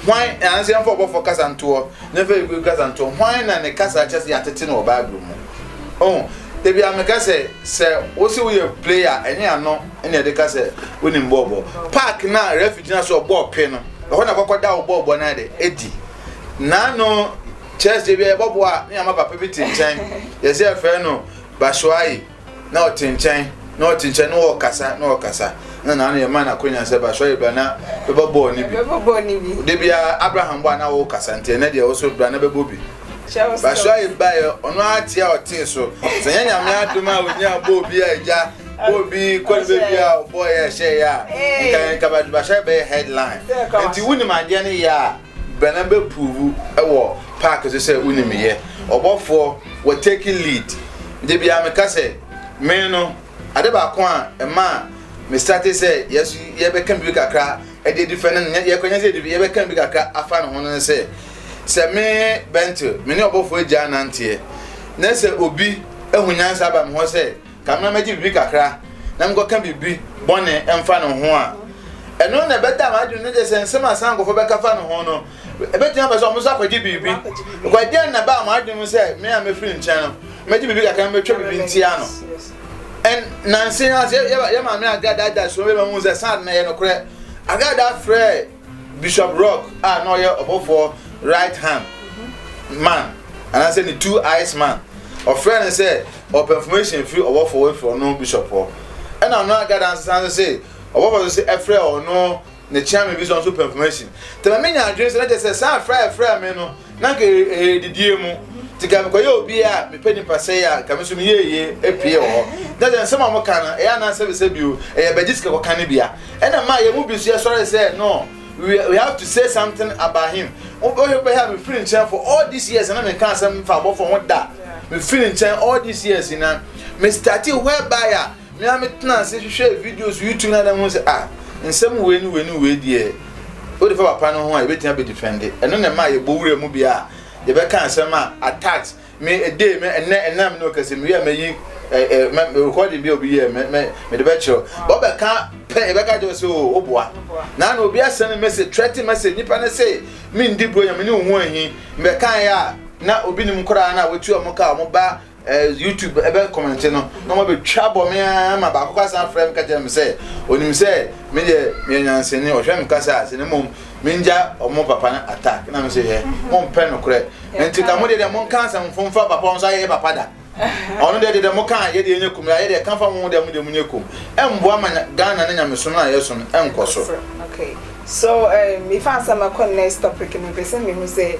hwan anaasɛ yɛmfa ɔbɔfoɔ kasa ntoɔ na yɛmfa Hebrew kasa ntoɔ hwan na ne kasa kyɛ sɛ yɛatete no wɔ Bible mu oh ebi a meka sɛ sɛ wosi woyɛ player ɛnyɛ ano ɛna yɛde ka sɛ wonim bɔɔlbɔ park na refi gyina so ɔbɔɔ pe no ɛhɔ na kɔkɔ da wo bɔɔlbɔ no de edi naano church de bi a yɛbɔboa ne ama papa bi te nkyɛn yɛsɛ yɛfrɛ no Bashoayi na ɔte nkyɛn na ɔte nkyɛn na ɔkasa na ɔkasa na na ano yɛ ma n'akonya sɛ ba sɔre bra na bɛbɔ bɔɔl ne bi bɛbɔ bɔɔl ne bi de bia abraham bɔ a na ɔkasa nti ɛnɛ deɛ ɔso bra na bɛbɔ bi ba sɔre ba yɛ ɔno ate a ɔte so sɛ nyɛ nyame adom a ɔnya bɔɔl bi a agya bɔɔl bi kɔne bɛ bi a ɔbɔɔ yɛ ɛhyɛ yɛ a nka nka ba sɔre bɛyɛ headline nti wonim adeɛ no yɛ a Bɛna bɛ pruvu wɔ park so sɛ woni me yɛ ɔbɔfoɔ wɔ taking lead. Da biaa me ka sɛ me no ade baako a ɛmaa me startee sɛ yɛso yɛ bɛ ka biribi kakra de adi fɛ no no yɛ kwanya sɛ yɛ bɛ ka biribi kakra afa ne ho no ne sɛ sɛ me Bentil me ne ɔbɔfoɔ agyaa nanteɛ na sɛ obi ahu nyansa aba me hɔ sɛ Ka me ma megye biribi kakra na menkɔka biribi bɔne mfa ne ho a, ɛno na ɛbɛda m'adwene no gye sɛ nsɛm a saa nkurɔfoɔ bɛka fa ne ho no, ɛbɛtumi aba sɛ wɔn nso akɔgye biribi. Kwa deɛn na ɛbaa m'adwene mu sɛ me a mefiri nkyɛn no, mɛgye biribi kakra na mɛtwa biribi ntia no. And nanse ase yɛ yɛ maame Agada da so bɛma mu sɛ saa na yɛ nokorɛ. Agada frɛ Bishop Rock a na ɔyɛ ɔbɔfoɔ right hand man anaasɛ ne two eyes man ɔfrɛ no sɛ ɔpɛ information firi ɔbɔfoɔ wɔ firi ɔno bishop hɔ ɛna ɔno agada nsesa no sɛ ɔbɔfoɔ no sɛ ɛfrɛ ɔno ne chairman bi sɛ ɔnso pɛ information tɛmɛ me nya adwene sɛ na kyɛ sɛ saa frɛ ɛfrɛ me no Na nka ɛyɛ didie mu nti nka mekɔyɛ obi a mepɛ nipa sɛe a nka me nso meyɛ yie apue wɔ hɔ na sɛ nsɛm a wɔka no ɛyɛ anaa sɛbisɛ bio ɛyɛ bɛgye sika kɔka no bia ɛna ma yɛn mu bi nso yɛsɔre sɛ no we, we have to say something about him wobɛhwɛ bɛhɛ a mefiri nkyɛn for all these years na menka asɛm mfa abɔfo ho da mefiri nkyɛn all these years na me starte whereby a Me ara metenaa ase hwehwɛɛ videos YouTube na na hu sɛ ah nsɛm wei ne wei ne wei deɛ wode fa papa no ho a yɛbɛtumi abɛdifɛnde ɛno na ɛma yɛbɔ wura mu bia a yɛbɛka nsɛm a attacks me ɛdee me ɛnɛ ɛnam ne ɔkasɛ mewie a mayi recording bi a obi yɛ mede bɛkyerɛ wɔbɛka pɛ yɛbɛka kyerɛ sɛ o woboa na na obi asɛne message trɛte message nipa no se mendi buro nyame ne wo ho ahi mbɛkaeɛ a na obi nim koraa na wɔtu ɔmo ka ɔmo ba Ɛɛ YouTube ɛbɛ kɔmɛnte no na ɔmo abɛtwa bɔ me ara ma baako kora san frɛ me ka kyerɛ me sɛ onim sɛ me deɛ meyɛ nyansani ɔhwɛ me kasa a sɛ na mmom mengya ɔmo papa no attack na me se hɛ mo mpɛ nokorɛ nti ka mo deɛ deɛ mo nka asɛm fo mfa papa ɔnso ayɛ yɛ papa da ɔno deɛ deɛ mo ka yɛ deɛ nyɛ kum yɛ deɛ ka fa mo deɛ mo deɛ mo nyɛ kum ɛmboa ma Ghana ne nyamesom no a yɛ som ɛnkɔ so. Okay so um, mefa asɛm akɔ next topic no pɛ sɛ mehu sɛ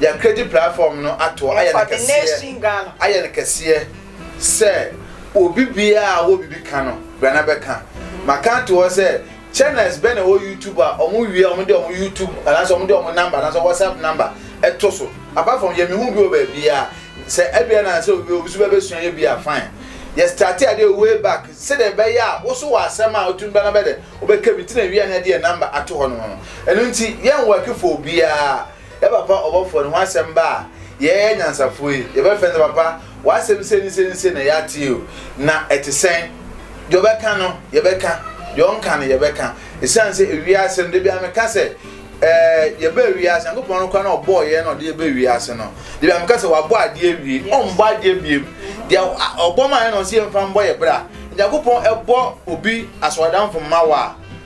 Yɛn Kredi platform no ato ayɛ no kɛseɛ, ayɛ no kɛseɛ sɛ obi biara a ɔwɔ biribi ka no, brɛ na bɛka. Maka ato hɔ sɛ channels bɛn na ɛwɔ YouTube a wɔn wie a wɔn de wɔn YouTube anaasɛ wɔn de wɔn number anaasɛ WhatsApp number ɛto so. Apart from yɛ mehu bi wɔ baabiara. Sɛ ɛbia na sɛ obi obi so bɛbɛsua yɛ bi a fine. Yɛ starte adeɛ way back sɛdeɛ ɛbɛyɛ a wo so wɔ asɛm a wotumi ba na bɛdɛ wobɛka bi nti na ɛwie a na yɛde yɛ number ato hɔ nom no. Ɛno nti yɛn work for obiara. Dɛ papa ɔbɔfoɔ no ho asɛm ba a, yɛɛ anyansafoɔ yi, yɛbɛfrɛ no sɛ, Papa, w'asɛm sei ne sei ne sei na yɛatee o, na ɛte sɛn? Deɛ ɔbɛka no, yɛbɛka, deɛ ɔnka no, yɛbɛka. Ɛsiane sɛ ewiase no, da biara meka sɛ, ɛɛ, yɛbaa wiase, Nyankopɔn no koraa na ɔbɔɔ yɛn na ɔde yɛn baa wiase no. Da biara meka sɛ, wabɔ adeɛ awie, ɔmmɔ adeɛ biom. Deɛ ɔbɔ maa yɛn na ɔse yɛmfa mbɔ yɛn bra. Nyankopɔn bɔ obi asɔredamfo mma wo a,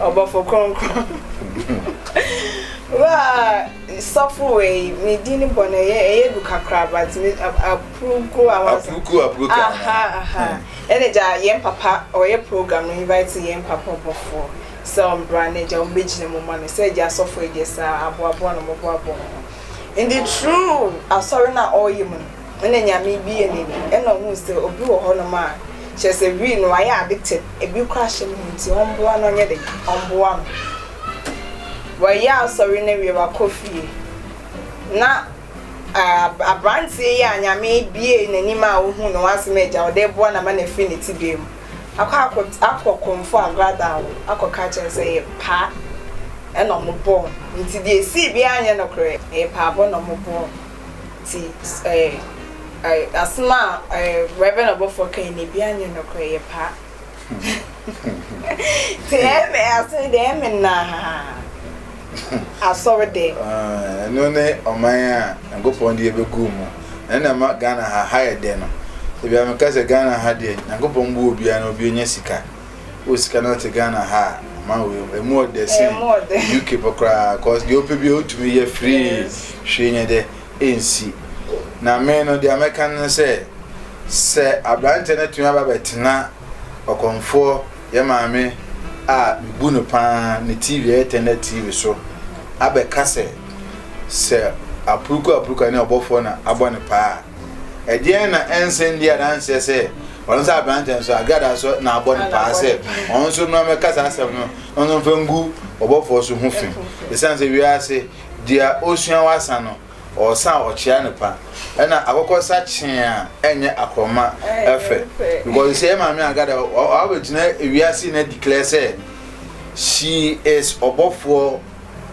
ɔbɔfo kronkron wa sɔfo wei ne din bɔ na ɛyɛ ɛyɛ du kakra but me apuruku a wa apuruku apuruku aha aha hmm. ɛna gya yɛn papa ɔyɛ program no invite yɛn papa ɔbɔfo sɛ ɔmbra na gya wɔn bɛgyina mu ma no sɛ gya sɔfo yɛ saa aboaboa na wɔn aboaboa wɔn ho in the true asɔre na ɔyɛ mu no. Hɔn enyame bi yɛ n'edu, nna ohun sɛ obi wɔ hɔnom a, kyerɛ sɛ wii no, ɔayɛ addicted, bi koraa hyɛ no ho ntsi ɔmboa no ɔnyɛ dɛn, ɔmboa no. Wɔyɛ asɔr no ewie, ɔakɔ fie na aab aberantsɛ yi a Nyame buee n'enyim a ohun no ɔasɛm egya wo dɛ eboa no ama no efi ne tsebea mu akɔ akɔts akɔ kɔmfo agorada hɔ akɔka akyerɛ no sɛ yɛpaa na ɔmobɔɔ no, ntsi dza esii biara nnyɛ nokorɛ, mpaabɔ na ɔmobɔɔ no. Ntsi eh asem a Reverend ɔbɔfoɔ kae no biaa nnyɛ nokorɛ yɛ paa Ntsi ɛmɛ ase no deɛ ɛmɛ naa asɔre dɛ. Ɛno ne ɔman a Nyankopɔn de yɛbɛgu mu. Ɛno na ɛma Ghana ha ha yɛ dɛ no. Ebia meka sɛ Ghana ha deɛ Nyankopɔn bu obiara na obi nya sika. Wo sika no te Ghana ha a, ma wo emu ɔdɛ sen UK pɔ koraa cause deɛ wopɛ bi a wotumi yɛ free hwee nyɛ dɛ ɛnsi. Na me no deɛ mɛka no sɛ sɛ aberanteɛ no tumi aba bɛtena ɔkɔmfoɔ yɛ maame a mebu no paa ne TV ɛyɛ tɛnɛ TV so abɛka sɛ sɛ apuruku apuruku ne ɔbɔfoɔ na abɔ ne paa a ɛdeɛn na ɛnsɛn di adanseɛ sɛ Ɔno sɛ aberantɛ nso a, Gad nso na abɔ no paa sɛ ɔno nso mmra mmɛka saa asɛm no na ɔno mfa ngu ɔbɔfoɔ so ho fi. Ɛsiane sɛ wiase deɛ ɔsua wasa no, ɔsa a ɔkyea no pa. Ɛna akɔkɔ sa kyee a ɛnyɛ akorɔma ɛfɛ. Because sɛ yɛ maame Agada ɔabɛgyina wiase na declare sɛ she is ɔbɔfoɔ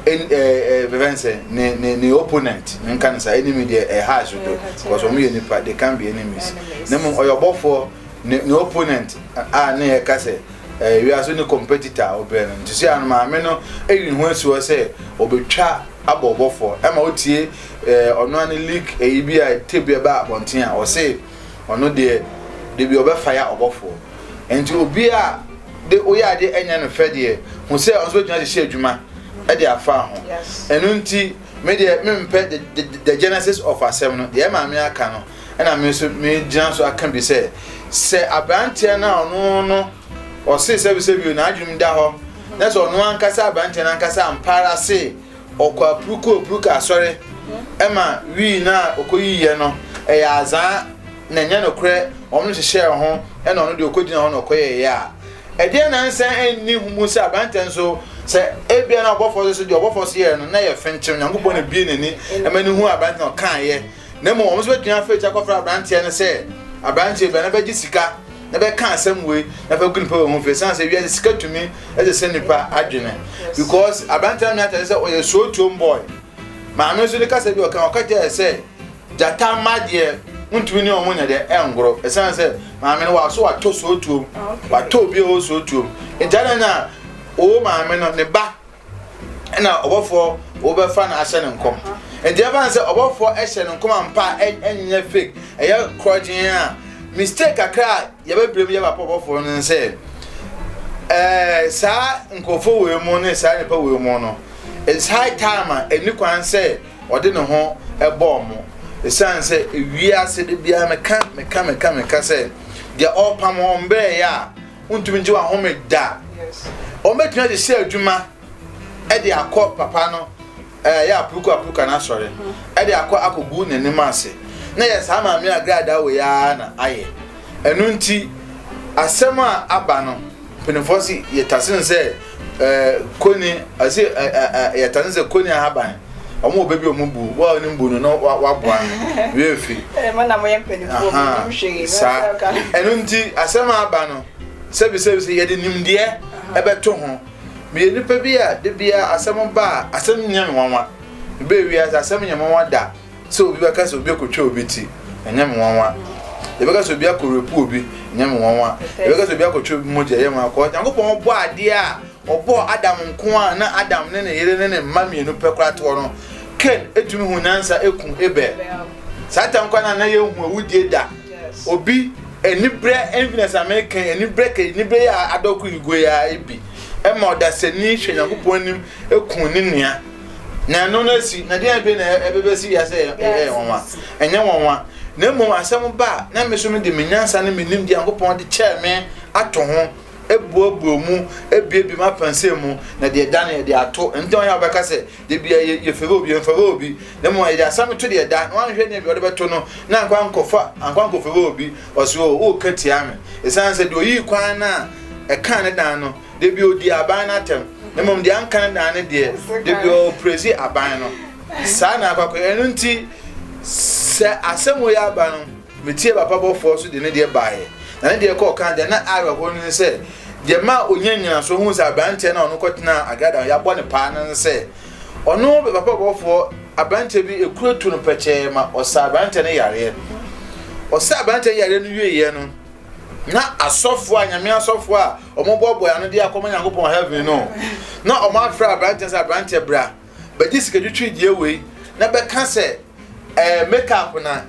ɛn ɛɛ ɛɛ bɛbɛn sɛ ne ne ne opponent ne nka ne sa enemy deɛ ɛha aso do because wɔn yɛ nipa they can be enemies ne mu ɔyɛ ɔbɔfoɔ ne ne opponent a ne yɛ ka sɛ ɛɛ wiase ne competitor a ɔbɛn no nti sɛ ano maame no ɛyi ne ho asi hɔ sɛ ɔbɛtwa abɔ ɔbɔfoɔ ɛma otie ɛɛ ɔno ano leak ɛyi bi a ɛte bi ɛba abɔnten a ɔse. ɔno deɛ dabi ɔbɛfa ya ɔbɔfoɔ nti obi a de woyɛ adeɛ ɛnyɛ no fɛ deɛ ho sɛ ɔno nso bɛtumi ahyehyɛ adwuma ɛde afa ho ɛno nti me deɛ mempɛ the, the, the genesis of asɛm no deɛ maame aka no ɛna me nso megyina so aka bi sɛ sɛ aberanteɛ no a ɔno no ɔse sɛbisɛbio n'adwenem da hɔ na sɛ ɔno ankasa aberanteɛ no ankasa ampaara se Ɔkɔ apurukopuruka asɔre ma wii no a ɔkɔyiiɛ no ɛyɛ azaa na ɛnyɛ nokorɛ wɔn no hyehyɛɛ ho na ɔno deɛ ɔkɔgyina hɔ na ɔkɔyɛeɛ a ɛdeɛ na nsa nni ho mu sɛ aberantɛ nso sɛ ebia na ɔbɔfoɔ so so deɛ ɔbɔfoɔ so yɛɛ no na yɛ fenkyem Nyankopɔn na bie n'ani ɛma no hu aberantɛ na ɔkaeɛ na mmom wɔn nso betumi afrɛ ti akɔfrɛ aberanteɛ no sɛ aberanteɛ bia na bɛgye sika na bɛka asɛm wei na fɛ gu nipa wɔ ho fɛ san sɛ wiase sika tumi ɛsɛ sɛ nipa adwene because aberanteɛ no meatare sɛ ɔyɛ sootuom boy maame nso ne kasa bi ɔka ɔka kyerɛ sɛ gyata mma deɛ ntumi ne ɔmo nyɛ deɛ ɛngoro ɛsan sɛ maame no waso watɔ sootuom watɔ obi a ɔwɔ sootuom nti adana o maame no ne ba ɛna ɔbɔfoɔ wɔbɛfa no ahyɛ no nkɔm nti ɛfa no sɛ ɔbɔfoɔ ɛhyɛ no nkɔm ampa ɛnyɛ fake ɛyɛ korɔgyen a mistake kakra a yɛbɛbrɛ mu yɛba pɔ ɔbɔfoɔ no sɛ ɛɛ saa nkurɔfoɔ wɔ mu ne saa nipa wɔ mu no it's high time a ɛni kwan sɛ ɔde ne ho ɛbɔ ɔmo ɛsiane sɛ ewie ase de biara meka meka meka meka sɛ deɛ ɔpam wɔn brɛ yɛ a Wontumi ngye w'ahome da. Wɔbɛtumi adi sɛ adwuma ɛde akɔ papa no ɛyɛ eh, apuruku apuruka no asɔre ɛde hmm. akɔ akɔgu n'anim ase na yɛ saa maame agradaa wɔ yɛa na ayɛ ɛno nti asɛm a aba no mpanimfoɔ si yɛtase no sɛ Eh, koni, ase eh, eh, eh, yɛta ne sɛ koni ahaban wɔn wɔ baabi a wɔn bu wɔn a wɔn bu no na waboa no wia fi saa ɛno nti asɛm aba no sɛbisɛbi sɛ yɛde nimdeɛ ɛbɛto ho meyɛ nipa bi a de bia asɛm ba a asɛm nyɛ me nwanwa bɛɛ wia sɛ asɛm nyɛ me nwanwa da Sɛ obi bɛka sɛ obi akɔtwa obi ti, ɛnyɛ me nwanwa. Yɛbɛka sɛ obi akɔrepu obi, ɛnyɛ me nwanwa. Yɛbɛka sɛ obi akɔtwa obi mogya, ɛyɛ me nwanwa. Kɔɔ Nyankopɔn ɔbɔ adeɛ a ɔbɔɔ Adam nko a na Adam ne ne yere ne ne mma mmienu pɛ koraa toɔ no. Ken etumi hu nyansa eku Abel. Saa tam kwan a na yɛnhu awudie da. Obi anibrɛ enfinɛ sa me Ken anibrɛ kɛ anibrɛ yɛ adɔko yi goe a ebi ɛma ɔdasani hwɛ Nyankopɔn anim eku ne nua. Na ɛno no asi, na deɛ ɛbɛ na ɛbɛbɛ si wiase ɛyɛ ɛyɛ nwanwa, ɛnyɛ nwanwa. Na mmom asɛm ba a na me so no de me nyansa ne me nim deɛ Nyankopɔn de kyɛɛ me ato ho, ebuobuo mu, ebiebie mu apansɛ mu, na deɛ da no yɛde ato. Nti wɔn a wɔbɛka sɛ deɛ bia yɛ yɛfɛrɛ obi, yɛmfɛrɛ obi, na mmom yɛde asɛm to deɛ da, na wɔn ahwɛ nea bi wɔde bɛto no, na nkwa nkɔfa, nkwa nkɔfɛrɛ obi, ɔsi o, ɔreka tia me, esan sɛ deɛ oyii kwan no a ɛkaa ne dan no. Da bi ɔdii aban no atɛm, na mmom deɛ anka no daa ne deɛ, da bi ɔprɛsi aban no. Saa na akɔakɔ. Ɛno nti, sɛ asɛm wei aba no, metie papa bɔfoɔ so de ne deɛ baeɛ. Na ne deɛ kɔɔ kan deɛ na awerɛhoɔ no ne sɛ, deɛ ma ɔnya nnyinasoɔ hu sɛ aberanteɛ no a ɔno kɔtenaa agrada a yɛabɔ ne paa no ne sɛ, ɔno papa bɔfoɔ aberanteɛ bi ekuro tu no pɛkyɛɛ ma ɔsa aberanteɛ no yareɛ. Ɔsa aberanteɛ yareɛ no wieeɛ no, na asɔfoɔ a nyame asɔfoɔ a Wɔboaboae ano de akɔma Nyankopɔn heaven no, na wɔafrɛ aberanteɛ sɛ, Aberanteɛ bra, bɛgye sikatwitwidie wei, na bɛka sɛ ɛɛ makeup na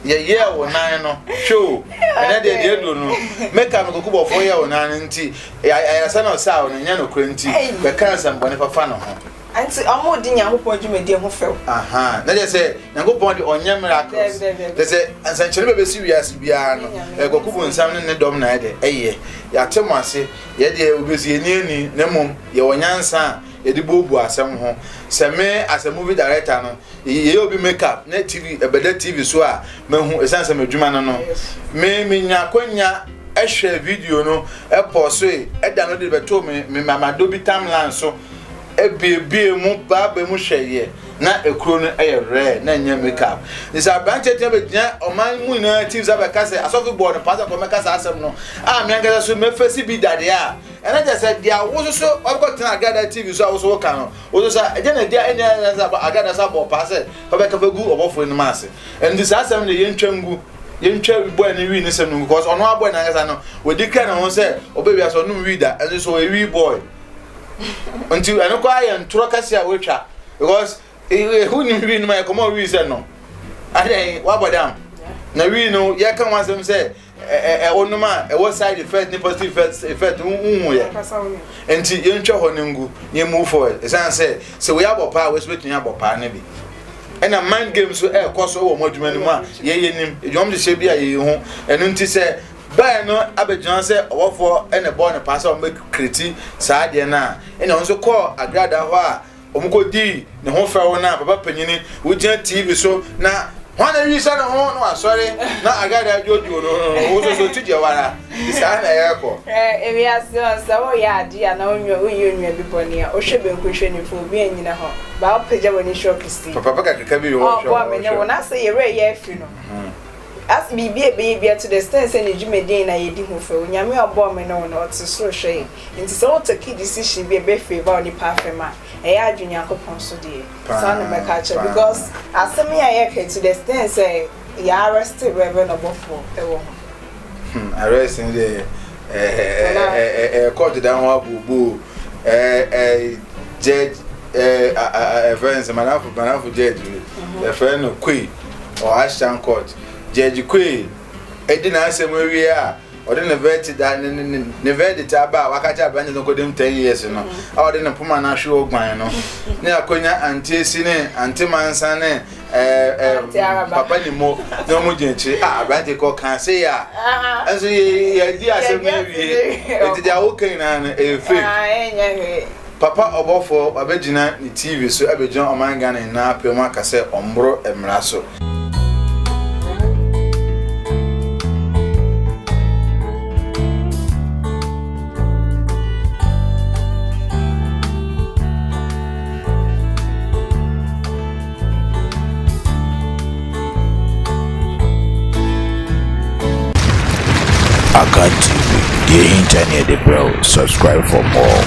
yɛyɛɛ wo nan no. Hwɛ o, ɛnɛ deɛ deɛ aduro no, makeup no kokobɔfoɔ yɛɛ wo nan no nti, ayaresa na ɔsaa wo no, nyɛ nokorɛ nti, bɛka nsɛmbɔne fafa ne ho. Nti ɔmo di Nyankopɔn dwumadie ho fɛw. Aha, na kyerɛ sɛ Nyankopɔn de ɔnyɛ miracles. Kyerɛ sɛ nsɛnkyerɛ bɛbɛsi wiase biara no, ɛyɛ kwaku bu nsam ne ne dɔm na ɛde ɛyɛ. Yɛate mo ase, yɛ deɛ obi sɛ yɛni ani, na mmom yɛwɔ nyansa a yɛde buobuo asɛm ho. Sɛ me as a movie director no, yɛyɛ obi make up na TV ɛbɛda TV so a, mahu ɛsiane sɛ m'adwuma no no. Me menya akwanya ɛhwɛ video no, ɛpɔsoe, ɛda no de bɛtoo me me mamadɔ bi tamlan so. ebuebue mu ba aba mu hwɛ yɛ na ekuro no yɛ rare na nyɛ makeup nti aberanteɛ tena bɛgyina ɔman mu nyinaa ti sɛ bɛka sɛ asɔfo bɔɔ no paa sɛ kɔmɛka saa asɛm no a me ankasa so mɛfɛsi bi dadeɛ a ɛna kyɛ sɛ deɛ wo so so ɔkɔ tena agada tv so a wo so woka no wo so sa ɛgya na ɛgya ɛnyɛ ɛnyɛ sɛ agada sa bɔɔ paa sɛ kɔbɛka fɛ gu ɔbɔfoɔ anim ase ɛnti saa asɛm no yɛntwa ngu yɛntwa bɔɛ no wii ne sɛm no ngu kɔs ɔno abɔɛ no ankasa no wɔdi kra ne ho sɛ ɔbɛwia sɛ ɔnom wii da ɛnso so ɔyɛ wii bɔɛ nti ɛno koraa yɛ ntorɔ kɛse a wɔatwa because ɛho nim wii no ma yɛkɔma ɔwii sɛ no adɛn woabɔ dam na wii no yɛka ho asɛm sɛ ɛwonom a ɛwɔ side effect ne positive effect effect wohu yɛ nti yɛntwa hɔ no ngu na yɛmu forward ɛsiane sɛ sɛ woyɛ abɔ paa wɔsi bɛtumi abɔ paa no bi ɛna mind game so ɛrekɔ so wɔ mo adwuma no mu a yɛyɛ nim adwuma hyehyɛ bi a yɛyɛ ho ɛno nti sɛ bae no abɛgyina hɔ sɛ ɔbɔfoɔ na ɛbɔɔ no paa sɛ wɔbɛkreti saa adeɛ no a, ɛna ɔno nso kɔɔ agradaa hɔ a wɔkɔdii ne ho fɛw no a papa panyini wogyina TV so na hwan na awi sɛ ne ho na wasɔre na agradaa dwoodwoo no wososo ti deɛ wara de saa na ɛrekɔ. Ewi ase ɔn sɛ woyɛ adeɛ a na wonwa woyɛ onwa bi bɔne a wohwɛ benku hwɛ nifa obi anyina hɔ baa wopagya w'ani hwɛ ɔkɛse. Papa pɛ kakraka bi wɔ hwɛ ɔbɔ me ne wo na sɛ yɛwerɛ yɛ afi no. As biribi a ɛbɛyɛ biara to the extent sɛ ne dwumadie nyinaa yɛdi ho fɛw. Onyame a ɔbɔɔ me ne wo no, ɔte soro hwɛ yɛn. Nti sɛ wo take decision bi a ɛbɛ favour onipa afam a, ɛyɛ adwene Nyankopɔn so deɛ, saa na mɛka akyerɛ wo. Because asɛm yi a yɛreka yi to the extent sɛ yɛ arrest Reverend ɔbɔfoɔ wɔ ho. Hmm, arrest no deɛ, eh, eh, eh, court da ho abooboo, eh, eh, judge, eh, eh, eh, friends, manafo, manafo judge, eh, friend, no, koi, wɔ Ashtown Court. Judge Quayle di n'asɛm wie a, ɔde ne verdict a ne ne ne verdict aba a waka kyerɛ aberante no kɔdim ten years no a ɔde ne poma no ahwe ɔguan no ne akonya ante esi ne ante mansa ne ɛɛ ɛɛ papa ne mo na wɔn gyina akyire a aberante kɔ kan se yɛ a ɛnso yɛ yɛ di asɛm no awie eti deɛ awoka nyinaa no ɛyɛ fake. Papa ɔbɔfoɔ wabɛgyina ne TV so abɛgyina ɔman Ghana nyinaa apɛ mu aka sɛ ɔmboro mmara so. Akan TV, deɛ ɛhinta ne yɛde brɛ wo, subscribe for more.